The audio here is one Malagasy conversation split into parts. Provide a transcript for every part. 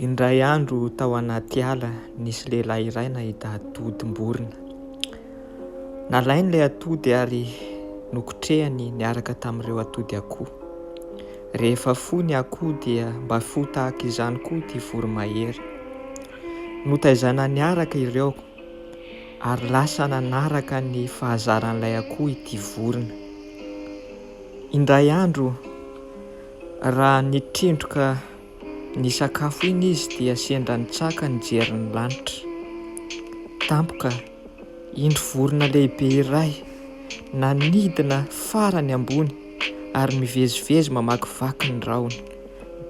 Indray andro tao anaty ala nisy lehilahy iray nahita atodim-borona. Nalainy ilay atody ary nokotrehany niaraka tamin'ireo atody akoho. Rehefa fo ny akoho dia mba fo tahaka izany koa ity voromahery. Notaizana niaraka ireo ary lasa nanaraka ny fahazaran'ilay akoho ity vorona. Indray andro Raha nitrindroka ny sakafo iny izy dia sendra nitsaka nijery ny lanitra. Tampoka, indro vorona lehibe iray nanidina farany ambony ary mivezivezy mamakivaky ny rahona.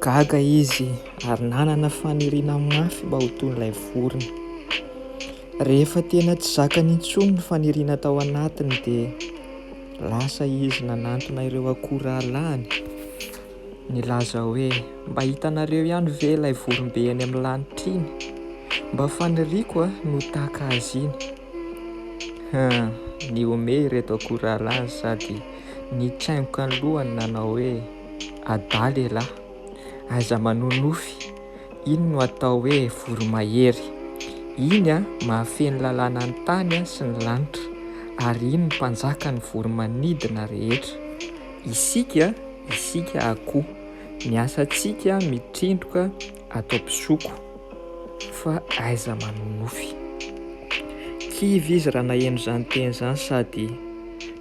Gaga izy ary nanana faniriana mafy mba ho toy ilay vorona. Rehefa tena tsy zakany intsony ny faniriana tao anatiny dia lasa izy nanantona ireo akoralahiny nilaza hoe, Mba hitanareo ihany ve ilay vorombe eny amin'ny lanitra iny? Mba faniriako no tahaka azy iny. Hum! Nihomehy ireto akoralahiny sady nitsaingoka ny lohany nanao hoe, Adala elah! Aiza manonofy! Iny no atao hoe voromahery. Iny mahafehy ny lalàna ny tany sy ny lanitra, ary iny no mpanjaka ny voromanidina rehetra. Isika, isika akoho, ny asantsika mitrindroka ato am-pisoko, fa aiza manonofy. Kivy izy raha naheno izany teny izany sady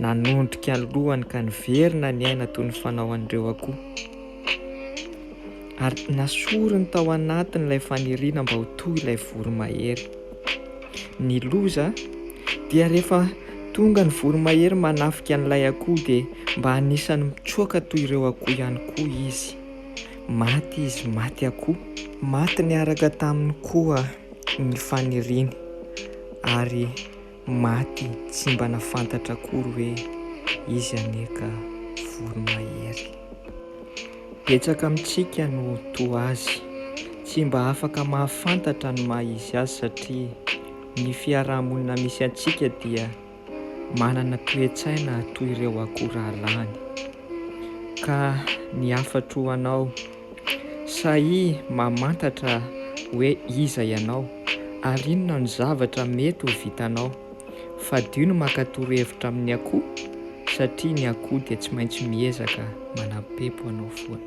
nanondrika ny lohany ka niverina niaina toy ny fanao an'ireo akoho. Ary nasoriny tao anatiny ilay faniriana mba ho toy ilay voromahery. Ny loza dia rehefa tonga ny voromahery manafika an'ilay akoho dia mba anisan'ny mitsoaka toy ireo akoho ihany koa izy. Maty izy, maty akoho. Maty niaraka taminy koa ny faniriany ary. Maty tsy mba nafantatra akory hoe izy anie ka voromahery. Betsaka amintsika no toa azy, tsy mba afaka mahafantatra ny maha izy azy satria ny fiaraha-monina misy antsika dia manana toe-tsaina toy ireo akoho rahalahiny. Ka ny hafatro ho anao. Sahia mamantatra hoe iza ianao ary inona no zavatra mety ho vitanao. Fadio ny maka torohevitra amin'ny akoho satria ny akoho dia tsy maintsy miezaka manampepo anao foana.